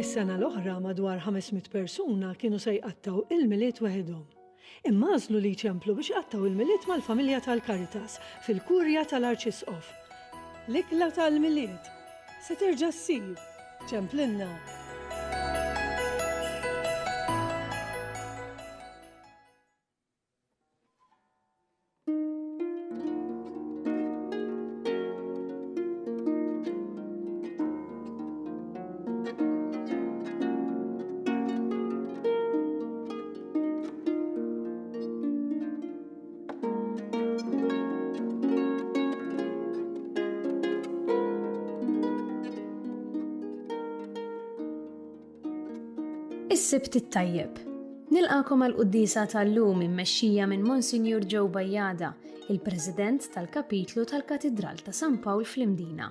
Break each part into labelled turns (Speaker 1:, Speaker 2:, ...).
Speaker 1: Is-sena l-oħra madwar 500 persuna kienu se jqattgħu il-Milied weħidhom. Imma għażlu li jċemplu biex iqattgħu il-Milied mal-familja tal-Caritas fil-Kurja tal-Arċisqof. L-ikla tal-Milied Se terġa' ssir, ċemplilna!
Speaker 2: Is-sibt it-tajjeb. Nilqakom għal quddisa tal-lum immexxija minn Monsignor Joe Bajada, il-President tal-Kapitlu tal-Katidral ta' San Pawl fl-Imdina.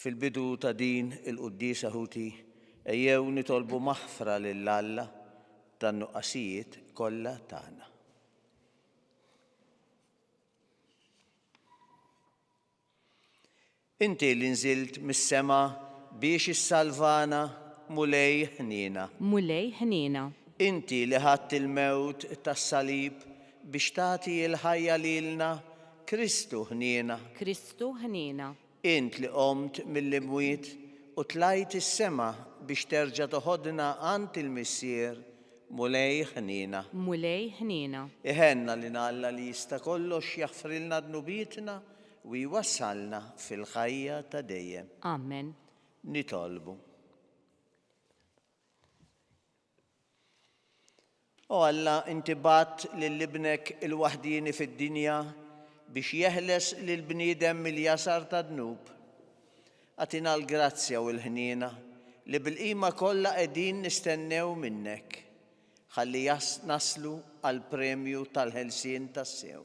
Speaker 3: Fil-bidu ta' din il-quddiesa ħuti, ejjew nitolbu maħfra lil Alla tan-nuqqasijiet kollha tagħna. Inti li nżilt mis-sema biex issalvana, Mulej ħniena. Mulej ħniena.
Speaker 4: Inti li
Speaker 3: ħadt il-mewt tas-salib Biex tagħti l-ħajja lilna, Kristu ħniena. Kristu ħniena.
Speaker 4: Int li
Speaker 3: qomt mill-imwiet u tlajt is-sema biex terġa' toħodna għand il-Missier, Mulej ħniena. Mulej ħniena.
Speaker 4: Iħenna lil
Speaker 3: Alla li jista' kollox jaħfrilna dnubietna u jwassalna fil-ħajja ta' dejjem. Amen.
Speaker 4: Nitolbu.
Speaker 3: O Alla, inti bgħatt lil Ibnek il-waħdieni fid-dinja biex jeħles lill-bniedem mill-jasar tad-dnub. Agħtina l-grazzja u l-ħniena li bil-qima kollha qegħdin nistennew minnek, ħalli naslu għall-premju tal-ħelsien tassew.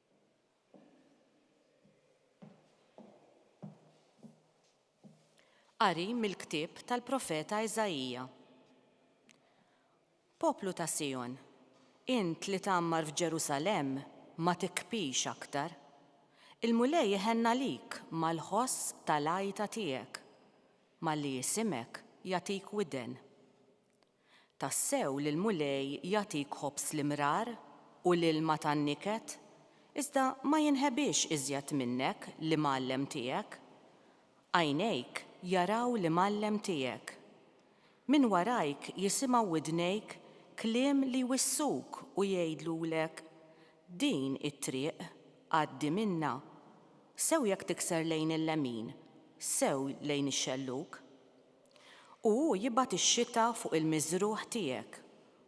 Speaker 4: Qari mill-ktieb tal-profeta Iżaija. Poplu ta' Sijon, int li tgħammar f'Ġerusalemm ma tikbix aktar. Il-Mulej iħenn għalik mal-ħoss tal-għajta tiegħek, malli jisimek jagħtik widen. Tassew li l-Mulej jagħtik ħobż l-imrar u l-ilma tan-niket, iżda ma jinħebiex iżjed minnek l-Imgħallem tiegħek. Għajnejk jaraw l-Imgħallem tiegħek. Minn warajk jisimgħu widnejk kliem li jwissuk u jgħidlulek, Din hi t-triq, għaddi minnha. Sew jekk tikser lejn il-lemin, sew lejn ix-xellug. U hu jibgħat ix-xita fuq il-miżrugħ tiegħek,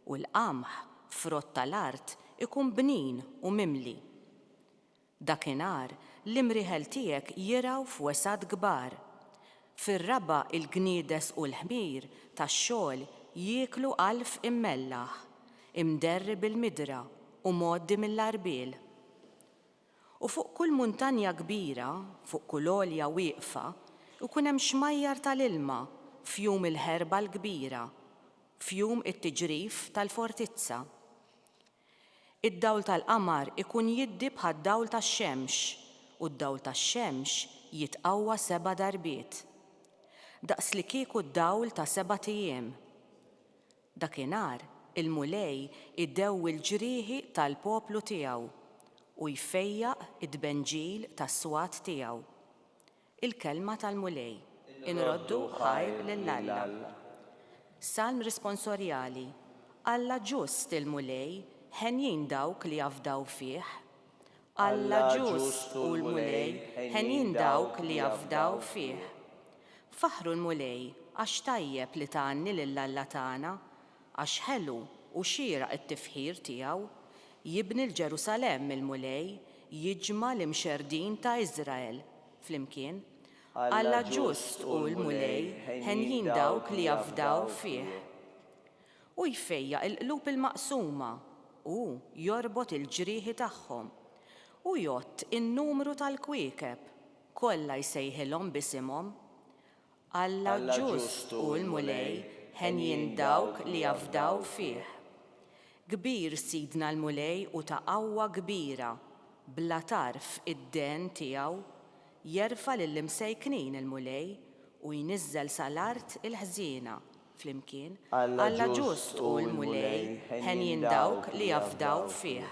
Speaker 4: u l-qamħ, frott ta' l-art, ikun bnin u mimli. Dakinhar l-imrieħel tiegħek jirgħu f'wesgħat kbar. Fir-raba' il-gniedes u l-ħmir tax-xogħol jieklu għalf immellaħ, imderri bil-midra u mgħoddi mill-għarbiel. U fuq kull muntanja kbira, fuq kull għolja wieqfa, ikun hemm xmajjar ta' l-ilma, fjum il-ħerba l-kbira, fjum it-tiġrif tal-fortizza. Id-dawl tal-qamar ikun jiddi bħad-dawl tax-xemx, u d-dawl tax-xemx jitqawwa seba' darbiet, daqslikieku d-dawl ta' sebat ijiem. Dakinhar il-Mulej idewwi l-ġrieħi tal-poplu tiegħu u jfejjaq it-tbenġil tas-swat tiegħu. Il-Kelma tal-Mulej. Inroddu ħajr lil Alla. Salm Risponsorjali, Alla ġust il-Mulej, henjin dawk li jafdaw fih. Alla ġust hu l-Mulej, henjin dawk li jafdaw fih. Faħħru l-Mulej, għax tajjeb li tgħanni lil Alla tagħna, għax ħelu u xieraq it-tifħir tiegħu. Jibni l-Ġerusalemm il-Mulej, jiġma' l-imxerrdin ta' Iżrael flimkien. Alla ġust hu l-Mulej, henjin dawk li jafdaw fih. Hu jfejjaq il-qlub il-maqsuma, hu jorbot il-ġrieħi tagħhom. Hu jgħodd in-numru tal-kwiekeb, kollha jsejħilhom b'isimhom. Alla ġust hu l-Mulej, henjin dawk li jafdaw fih. Kbir Sidna l-Mulej u ta' qawwa kbira, bla tarf id-dehn tiegħu. Jerfa' lill-imsejknin il-Mulej u jniżżel sa l-art il-ħżiena. flimkien, Alla ġust hu l-Mulej, henjin dawk li jafdaw fih.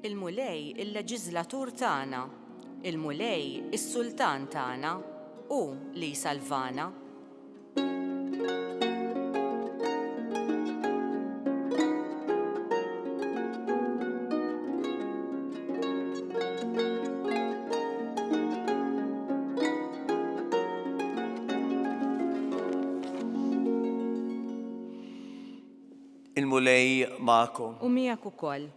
Speaker 4: Il-Mulej il-Leġiżlatur tagħna, il-Mulej is-Sultan tagħna, hu li jsalvana.
Speaker 3: il-Mulej magħkom. U miegħek ukoll.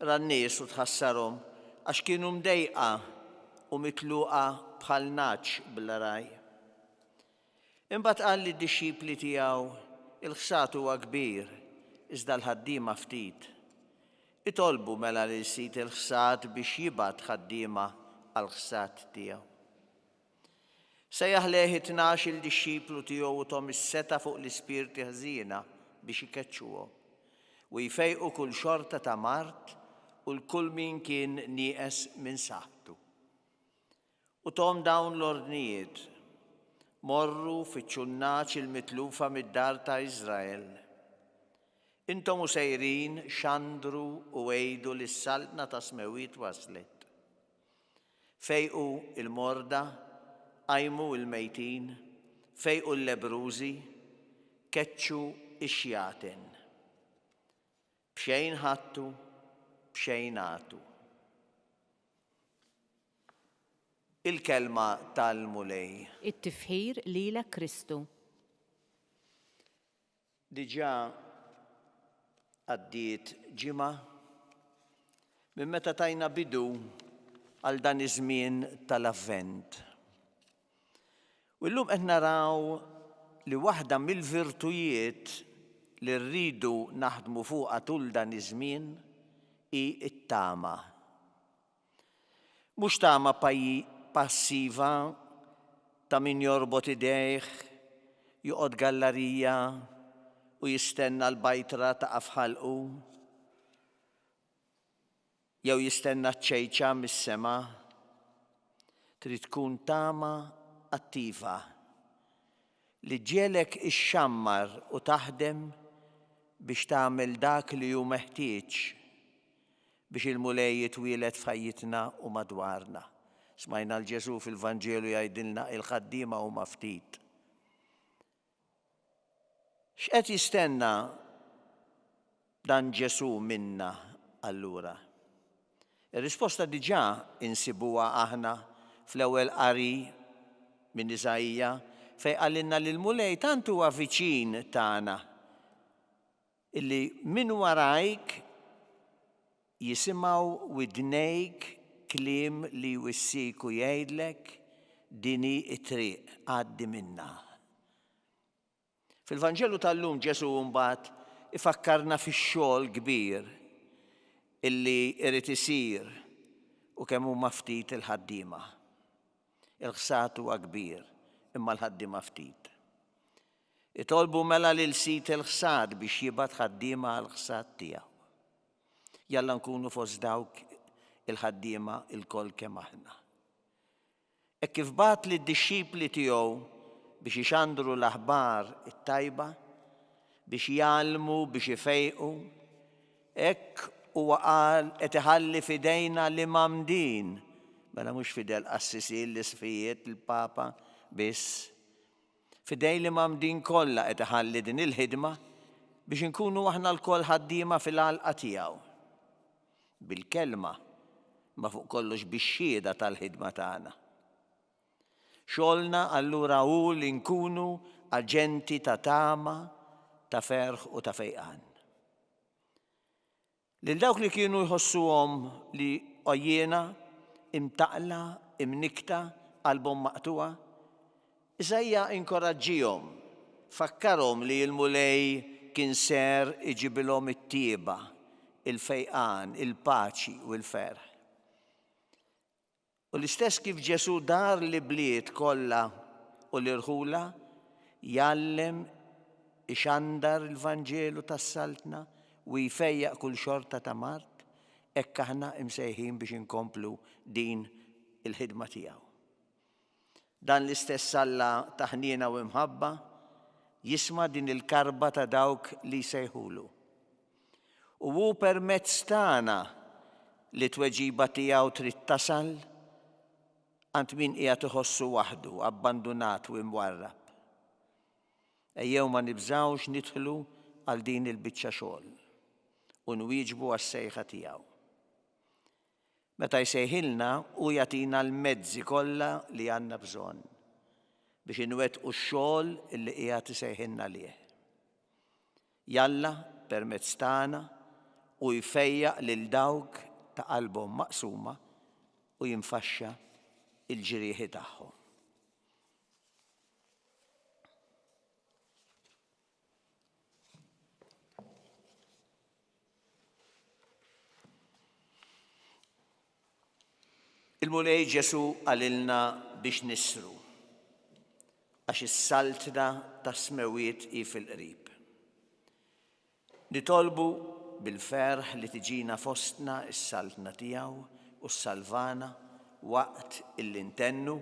Speaker 3: Ra n-nies u tħassarhom, għax kienu mdejqa u mitluqa bħal nagħaġ bla ragħaj. Imbagħad qal lid-dixxipli tiegħu, Il-ħsad huwa kbir, iżda l-ħaddiema ftit. Itolbu mela lil sid il-ħsad biex jibgħat ħaddiema għall-ħsad tiegħu. Sejjaħ lejh it-tnax-il dixxiplu tiegħu u thom is-setgħa fuq l-ispirti ħżiena biex ikeċċuhom, u jfejqu kull xorta ta' mard u 'l kull min kien nieqes minn saħħtu. U thom dawn l-ordnijiet, Morru, fittxu n-nagħaġ il-mitlufa mid-dar ta' Israel. Intom u sejrin, xandru u għidu li s-Saltna tas-Smewwiet waslet. Fejqu l-morda, qajmu l-mejtin, fejqu l-lebbrużi, keċċu x-xjaten. B'xejn ħadtu, b'xejn agħtu. Il-kelma tal-Mulej. It-tifħir
Speaker 4: lilek Kristu.
Speaker 3: Diġà għaddiet ġimgħa minn meta tajna bidu għal dan iż-żmien tal-Avvent. U llum qed naraw li waħda mill-virtujiet li rridu naħdmu fuqha tul dan iż-żmien hi t-tama. Mhux tama passiva ta' min jorbot idejh, joqgħod gallarija u jistenna l-bajtra taqa' f'ħalqu, jew jistenna ċ-ċejċa mis-sema. Trid tkun tama attiva, li ġġiegħlek ixxammar u taħdem biex tagħmel dak li hu meħtieġ, Biex il-Mulej jitwieled f'ħajjitna u madwarna. Smajna 'l Ġesù fil-Vanġelu jgħidilna il-ħaddiema huma ftit. X'qed jistenna dan Ġesù minna allura? Ir-risposta diġà insibuha aħna fl-ewwel qari minn Iżaija fejn qalilna li l-Mulej tant huwa viċin tagħna Illi minn warajk jisimgħu widnejk kliem li jwissiek u jgħidlek, Din hi t-triq, għaddi minnha. Fil-Vanġelu tal-lum Ġesù mbagħad ifakkarna fix-xogħol kbir illi jrid isir u kemm huma ftit il-ħaddiema. Il-ħsad huwa kbir, imma l-ħaddiema ftit. Itolbu mela lil sid il-ħsad biex jibgħat ħaddiema għall-ħsad tiegħu. Jalla nkunu fost dawk il-ħaddiema lkoll kemm aħna. Hekk kif bagħat lid-dixxipli tiegħu biex ixandru l-aħbar it-tajba, biex jgħallmu, biex ifejqu, hekk huwa qal qed iħalli f'idejna l-imgħammdin, mela mhux f'idel qassisin, l-isqfijiet, il-papa biss, F'idejn l-Imam din kollha qed iħalli din il-ħidma biex inkunu aħna lkoll ħaddiema fil-għalqa tiegħu. Bil-kelma, imma fuq kollox bix-xhieda tal-ħidma tagħna. Xogħolna allura hu li nkunu aġenti ta' tama, ta' ferħ u ta' fejqan. Lil dawk li kienu jħossuhom li għojjiena, imtaqqla, imnikkta, qalbhom maqtugħa, Isaija inkoraġġihom, fakkarhom li l-Mulej kien ser iġibilhom it-tjieba, il-fejqan, il-paċi u l-ferħ. U l-istess kif Ġesù dar l-ibliet kollha u l-irħula, jgħallem, ixandar il-Vanġelu tas-Saltna u jfejjaq kull xorta ta' mard, hekk aħna msejħin biex inkomplu din il-ħidma tiegħu. Dan l-istess Alla ta' ħniena u imħabba jisma' din il-karba ta' dawk li jsejħulu. U hu permezz tagħna li t-tweġiba tiegħu trid tasal għand min qiegħed iħossu waħdu, abbandunat u imwarrab. Ejjew ma nibżgħux nidħlu għal din il-biċċa xogħol u nwieġbu għas-sejħa tiegħu. Meta jsejħilna, hu jagħtina l-mezzi kollha li għandna bżonn biex inwettqu x-xogħol li qiegħed isejħilna għalih. Jalla, permezz tagħna, hu jfejjaq lil dawk ta' qalbhom maqsuma u jinfaxxa l-ġrieħi tagħhom. Il-Mulej Ġesu għalilna biex nisru, għax is-saltna ta' smewiet i fil-qrib. Nitolbu bil-ferħ li tiġina fostna is-saltna tiegħu u s-salvana waqt il-intennu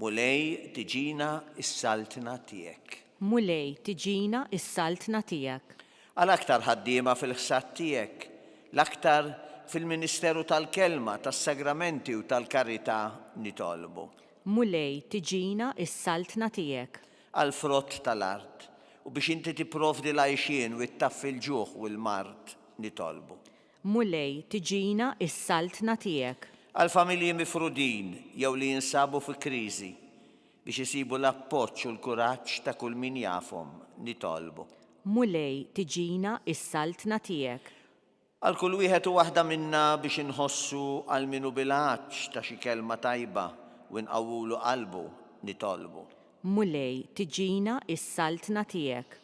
Speaker 3: Mulej, tiġina s-saltna tiegħek. Mulej,
Speaker 4: tiġina s-saltna tiegħek. Għal aktar
Speaker 3: ħaddiema fil-ħsad tiegħek, l-aktar fil-ministeru tal-Kelma, tas-Sagramenti u tal-Karità nitolbu. Mulej,
Speaker 4: tiġina s-saltna tiegħek. Għall-frott
Speaker 3: tal-art, u biex Inti tipprovdi l-għajxien u ttaffi l-ġuħ u l-mard nitolbu. Mulej,
Speaker 4: tiġina s-saltna tiegħek. Għall-familji
Speaker 3: mifrudin jew li jinsabu fi kriżi, biex isibu l-appoġġ u l-kuraġġ ta' kull min jafhom, nitolbu. Mulej,
Speaker 4: tiġina s-saltna tiegħek. Għal kull
Speaker 3: wieħed u waħda minna biex inħossu għal min hu bil-għatx ta' xi kelma tajba u nqawwulu qalbu, nitolbu. Mulej,
Speaker 4: tiġina s-saltna tiegħek.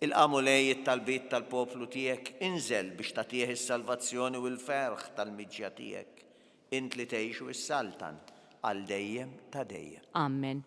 Speaker 4: Ilqa' Mulej
Speaker 3: it-talbiet tal-poplu tiegħek, inżel biex tagħtih is-salvazzjoni u l-ferħ tal-miġja tiegħek, int li tgħix u ssaltan għal dejjem ta' dejjem. Amen.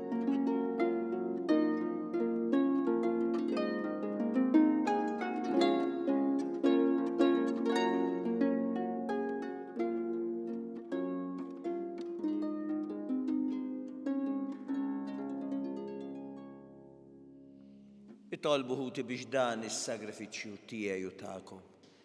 Speaker 3: Nitolbu ħuti biex dan is-sagrifiċċju tiegħi u tagħkom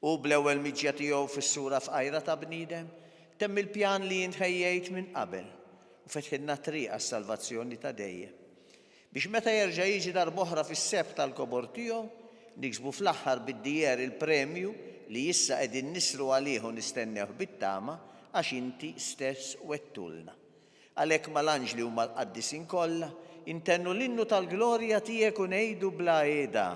Speaker 3: Hu bl-ewwel miġja tiegħu fis-sura fqajra ta' bniedem, temm il-pjan li jien ħejjejt minn qabel u fetħilna t-triq għas-salvazzjoni ta' dejjem. Biex meta jerġa' jiġi darb'oħra fis-sebħ tal-kobor tiegħu, niksbu fl-aħħar bid-dieher il-premju li issa qegħdin nisru għalih u nistennewh bit-tama għax inti stess wegħdtulna. Għalhekk mal-anġli u mal-qaddisin kollha, intennu l-innu tal-glorja tiegħek u ngħidu bla qiegħda,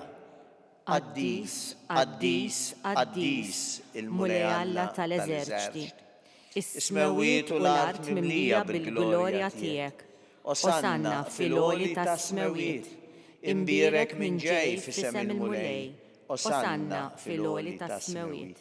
Speaker 3: Qaddis, qaddis, qaddis, il-Mulej Alla tal-eżerċti. Is-smewwiet u l-art mimlija bil-glorja tiegħek. Osanna fil-għoli tas-smewwiet. Imbierek min ġej f'isem il-Mulej. Osanna fil-għoli tas-smewwiet.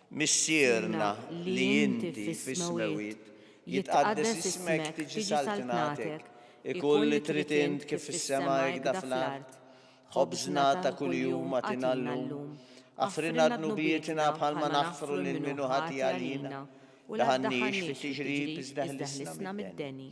Speaker 3: Missierna li inti fis-smewwiet, jitqaddes ismek, tiġi saltnatek, ikun li trid int kif fis-sema hekda fl-art. Ħobżna ta' kuljum agħtina llum. Aħfrilna dnubietna bħalma naħfru lil min hu ħati għalina, u la ddaħħalniex fit-tiġrib iżda ħlisna mid-deni.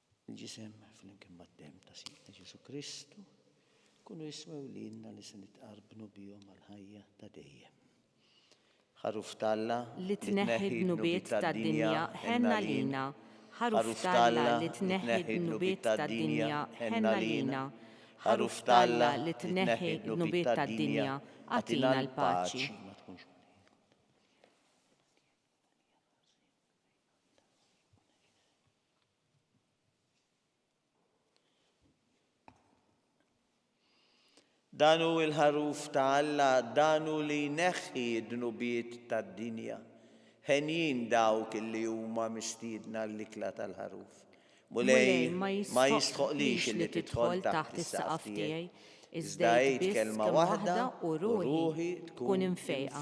Speaker 3: Il-ġisem flimkien mad-demm ta' Sidna Ġesù Kristu jkunu jiswew lilna li se nitqarbnu bihom għall-ħajja ta' dejjem. Ħaruf t'Alla li tneħħi
Speaker 4: d-dnubiet tad-dinja, ħenn għalina. Ħaruf t'Alla li tneħħi d-dnubiet tad-dinja, ħenn għalina. Ħaruf t'Alla li tneħħi d-dnubiet tad-dinja, agħtina l-paċi.
Speaker 3: Dan hu l-ħaruf ta' Alla, dan hu li jneħħi d-dnubiet tad-dinja. Henjin dawk li huma mistiedna għall-ikla tal-ħaruf. Mulej ma jistħoqlix li tidħol taħt is-saqaf tiegħi, iżda għid kelma waħda u ruħi tkun imfejqa.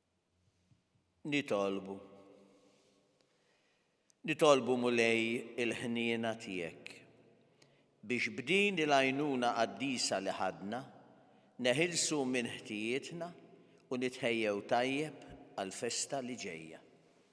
Speaker 3: Nitolbu. Nitolbu Mulej il-ħniena tiegħek biex b'din il-għajnuna qaddisa li ħadna neħilsu minn ħtijietna u nitħejjew tajjeb għall-festa li ġejja.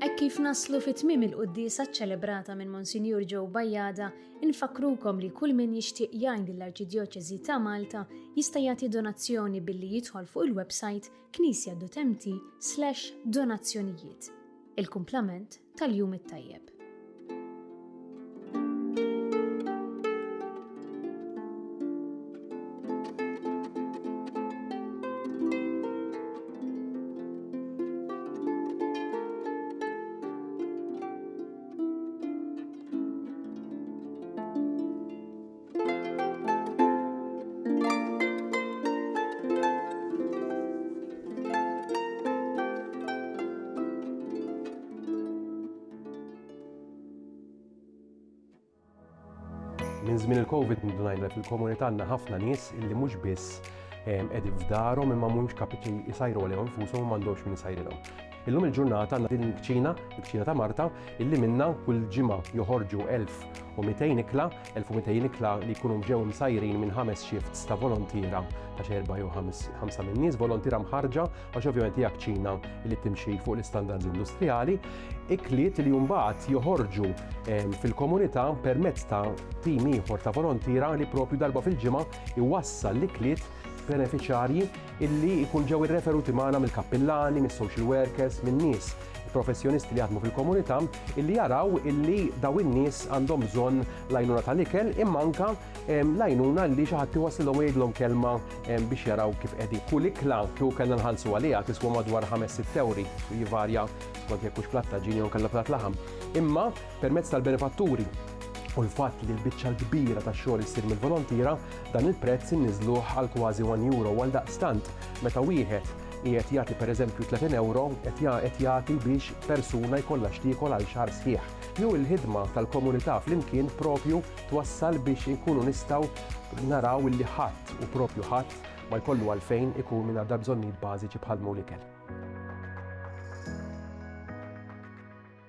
Speaker 2: Hekk kif naslu fit tmiem il-quddiesa ċċelebrata minn Monsinjur Joe Bajjada, infakrukom li kull min jixtieq jgħin lill-Arċidjoċesi ta' Malta jista' jagħti donazzjoni billi jidħol fuq il-website knisja.mt/donazzjonijiet. Il-kumplament tal-jum it-tajjeb.
Speaker 5: Minn żmien il-Covid ngħidlek li l-komunità għandna ħafna nies illi mhux biss qegħdin f'darhom imma mhumiex kapiċi jsajru għalihom infushom u m'għandhomx min isajrilhom. Illum il-ġurnata għandna din il-kċina, il-kċina ta' Marta, illi minna kull ġimgħa joħorġu 1200 ikla 1,200 ikla li jkunu ġew imsajrin minn ħames shifts ta' volontiera ta' xi erbgħa jew ħamsa minn nies volontiera mħarrġa għax ovvjament hija kċina li timxi fuq l-istandards industrijali, ikliet li mbagħad joħorġu ehm, fil-komunità permezz ta' tim ieħor ta' volontiera li propju darba fil-ġimgħa iwassal l-ikliet benefiċjarji illi jkun ġew irreferuti magħna mill-kappillani, mis-social workers, minn nies professjonisti li jaħdmu fil-komunità illi jaraw illi daw in-nies għandhom bżonn l-għajnuna tal-ikel imma anke l-għajnuna li xi ħadd iwassilhom u jgħidlhom kelma biex jaraw kif qegħdin. Kull ikla kieku kellna nħallsu għaliha tiswa madwar 5-6 ewri, jivarja skont jekk hux platt ta' ġin jew inkella platt laħam. Imma Permezz tal-benefatturi u l-fatt li l-biċċa l-kbira tax-xogħol issir mill-volontiera, dan il-prezz inniżluh għal kważi one euro. Għaldaqstant, meta wieħed qiegħed jagħti pereżempju 30 ewro, qed jagħti biex persuna jkollha x'tiekol għal xahar sħiħ. Jew il-ħidma tal-komunità flimkien proprju twassal biex inkunu nistgħu naraw illi ħadd, u proprju ħadd, ma jkollu għalfejn ikun mingħajr dal-bżonnijiet bażiċi bħal dmugħ l-ikel.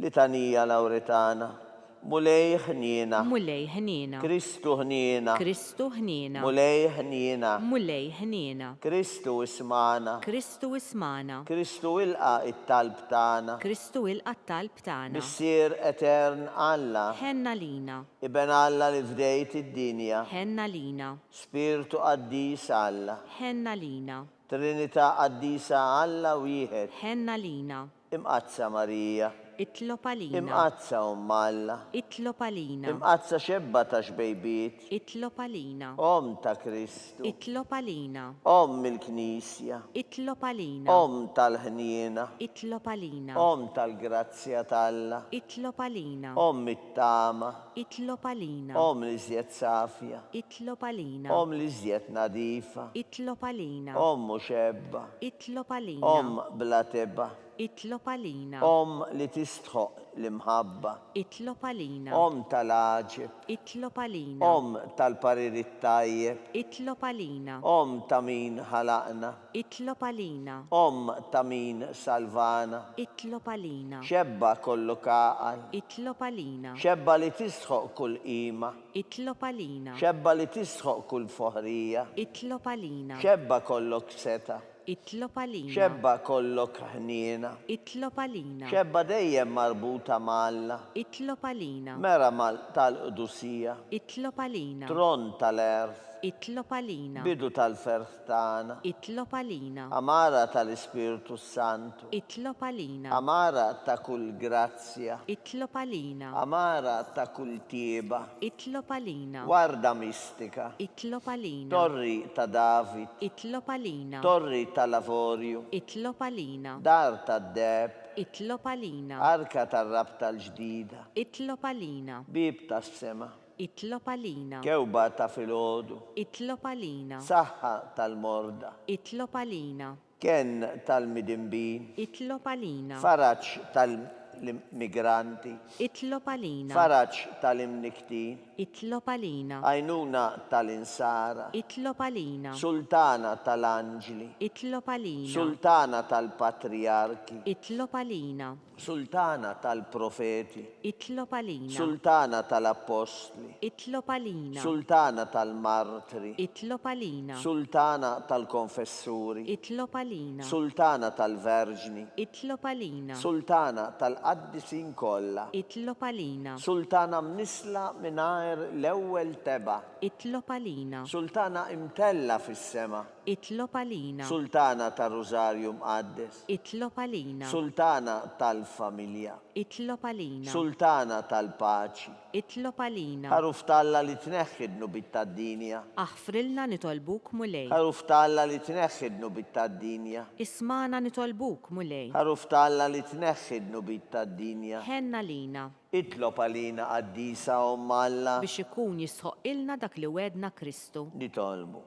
Speaker 4: Litanija
Speaker 3: Lawritana. Mulej ħniena. Mulej ħniena.
Speaker 4: Kristu ħniena.
Speaker 3: Kristu ħniena.
Speaker 4: Mulej ħniena.
Speaker 3: Mulej ħniena.
Speaker 4: Kristu
Speaker 3: ismagħna. Kristu ismagħna.
Speaker 4: Kristu ilqa'
Speaker 3: t-talb tagħna. Kristu ilqa' t-talb
Speaker 4: tagħna. Missier Etern
Speaker 3: Alla. Ħenn għalina.
Speaker 4: Iben Alla li
Speaker 3: fdejt id-dinja. Ħenn għalina.
Speaker 4: Spirtu
Speaker 3: Qaddis Alla. Ħenn għalina.
Speaker 4: Trinità
Speaker 3: Qaddisa Alla Wieħed. Ħenn għalina.
Speaker 4: Imqaddsa Marija.
Speaker 3: Itlob għalina.
Speaker 4: Imqaddsa Omm
Speaker 3: Alla. Itlob għalina.
Speaker 4: Imqaddsa Xebba
Speaker 3: ta' xbejbiet. Itlob għalina.
Speaker 4: Omm ta' Kristu.
Speaker 3: Itlob għalina.
Speaker 4: Omm
Speaker 3: il-Knisja. Itlob għalina.
Speaker 4: Omm tal-ħniena.
Speaker 3: Itlob għalina.
Speaker 4: Omm tal-grazzja
Speaker 3: t'Alla. Itlob għalina.
Speaker 4: Omm Tama.
Speaker 3: Itlob għalina.
Speaker 4: Omm li żjed
Speaker 3: safja. Itlob għalina.
Speaker 4: Omm li żjed
Speaker 3: nadifa. Itlob għalina.
Speaker 4: Omm muxebba.
Speaker 3: Itlob għalina.
Speaker 4: Omm bla tebgħa.
Speaker 3: Itlob għalina.
Speaker 4: Omm li tistħoqq
Speaker 3: l-imħabba. Itlob għalina.
Speaker 4: Omm tal-għaġeb.
Speaker 3: Itlob għalina.
Speaker 4: Omm tal-parir
Speaker 3: it-tajjeb. Itlob għalina.
Speaker 4: Omm ta' min
Speaker 3: ħalaqna. Itlob għalina.
Speaker 4: Omm ta'
Speaker 3: min salvana. Itlob għalina.
Speaker 4: Xebba kollu
Speaker 3: kagħal. Itlob għalina.
Speaker 4: Xebba li tistħoq
Speaker 3: kull qima. Itlob għalina.
Speaker 4: Xebba li tistħoq
Speaker 3: kull foħrija. Itlob għalina.
Speaker 4: Xebba kollok
Speaker 3: setgħa. Itlob għalina.
Speaker 4: Xebba kollok
Speaker 3: ħniena. Itlob għalina.
Speaker 4: Xebba dejjem
Speaker 3: marbuta ma' Alla. Itlob għalina.
Speaker 4: Mera
Speaker 3: tal-qdusija. Itlob għalina.
Speaker 4: Tron tal-għerf.
Speaker 3: Itlob għalina.
Speaker 4: Bidu tal-ferħ.
Speaker 3: tagħna. Itlob għalina.
Speaker 4: Għamara
Speaker 3: tal-Ispirtu s-Santu. Itlob għalina.
Speaker 4: Għamara ta' kull
Speaker 3: grazzja. Itlob għalina.
Speaker 4: Għamara ta'
Speaker 3: kull tjieba. Itlob għalina.
Speaker 4: Warda mistika.
Speaker 3: Itlob għalina.
Speaker 4: Torri ta'
Speaker 3: David. Itlob għalina.
Speaker 4: Torri tal-Avorju.
Speaker 3: Itlob għalina.
Speaker 4: Dar tad-Deheb.
Speaker 3: Itlob għalina.
Speaker 4: Arka tar-Rabta
Speaker 3: l-Ġdida. Itlob għalina.
Speaker 4: Bieb tas-Sema.
Speaker 3: Itlob għalina.
Speaker 4: Kewba ta' filgħodu.
Speaker 3: Itlob għalina.
Speaker 4: Saħħa
Speaker 3: tal-morda. Itlob għalina.
Speaker 4: Kenn
Speaker 3: tal-midinbin. Itlob għalina.
Speaker 4: Faraġ
Speaker 3: tal-immigranti. Itlob
Speaker 4: għalina. Faraġ
Speaker 3: tal-imnikktin. Itlob
Speaker 4: għalina. Għajnuna
Speaker 3: tal-insara. Itlob għalina.
Speaker 4: Sultana
Speaker 3: tal-anġli. Itlob għalina.
Speaker 4: Sultana
Speaker 3: tal-patrijarki. Itlob għalina.
Speaker 4: Sultana
Speaker 3: tal-profeti. Itlob għalina.
Speaker 4: Sultana
Speaker 3: tal-appostli. Itlob għalina.
Speaker 4: Sultana
Speaker 3: tal-martri. Itlob għalina.
Speaker 4: Sultana
Speaker 3: tal-konfessuri. Itlob għalina.
Speaker 4: Sultana
Speaker 3: tal-verġni. Itlob għalina.
Speaker 4: Sultana
Speaker 3: tal-qaddisin kollha. Itlob għalina.
Speaker 4: Sultana mnissla
Speaker 3: mingħajr l-ewwel tebgħa. Itlob għalina.
Speaker 4: Sultana imtellgħa
Speaker 3: fis-sema. Itlob għalina.
Speaker 4: Sultana tar-Rużarju
Speaker 3: Mqaddes. Itlob għalina.
Speaker 4: Sultana
Speaker 3: tal-familja. Itlob għalina.
Speaker 4: Sultana
Speaker 3: tal-paċi. Itlob għalina.
Speaker 4: Ħaruf t'Alla li
Speaker 3: tneħħi d-dnubiet tad-dinja. Aħfrilna
Speaker 4: nitolbuk, Mulej. Ħaruf t'Alla li
Speaker 3: tneħħi d-dnubiet tad-dinja. Ismagħna
Speaker 4: nitolbuk, Mulej. Ħaruf t'Alla li
Speaker 3: tneħħi d-dnubiet tad-dinja. Ħenn għalina.
Speaker 4: Itlob għalina
Speaker 3: Qaddisa Omm Alla. Biex ikun
Speaker 4: jistħoqqilna dak li wegħedna Kristu. Nitolbu.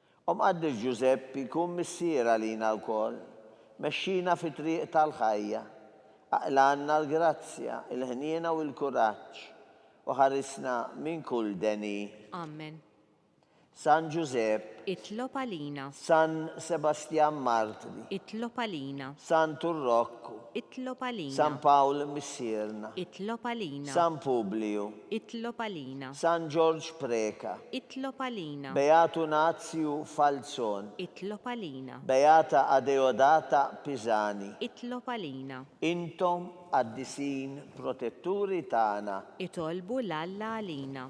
Speaker 3: O Mqaddis Ġużeppi, kun missier għalina lkoll, mexxina fit-triq tal-ħajja, aqlgħanna l-grazzja, il-ħniena u l-kuraġġ, u ħarisna minn kull deni. Amen.
Speaker 4: San
Speaker 3: Ġużepp. Itlob għalina.
Speaker 4: San
Speaker 3: Sebastjan Martri. Itlob għalina.
Speaker 4: San Turrokku.
Speaker 3: Itlob għalina.
Speaker 4: San Pawl
Speaker 3: missierna. Itlob għalina.
Speaker 4: San Publiju.
Speaker 3: Itlob għalina.
Speaker 4: San Ġorġ
Speaker 3: Preca. Itlob għalina.
Speaker 4: Beatu Nazju
Speaker 3: Falzon. Itlob għalina.
Speaker 4: Beata
Speaker 3: Adeodata Pisani. Itlob għalina.
Speaker 4: Intom
Speaker 3: Qaddisin Protetturi tagħna. Itolbu 'l Alla
Speaker 4: għalina.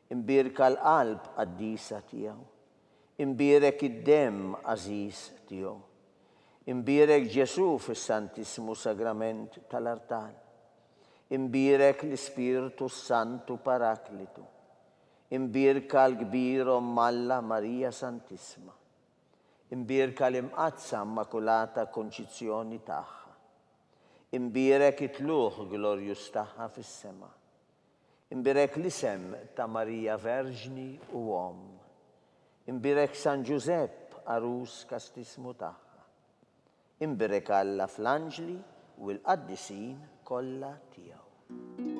Speaker 3: Imbierka l-qalb qaddisa tiegħu. Imbierek id-demm għażiż tiegħu. Imbierek Ġesù fis-Santissmu Sagrament tal-artal. Imbierek l-Ispirtu s-Santu Paraklitu. Imbierka l-kbir Omm Alla Marija Santissma. Imbierka l-Imqaddsa Immakulata Konċizzjoni tagħha. Imbierek it-tlugħ glorjuż tagħha fis-sema. Imbierek l-isem ta' Marija Verġni u Omm. Imbierek San Ġużepp, għarus kastismu tagħha. Imbierek Alla fl-anġli u l-qaddisin kollha tiegħu.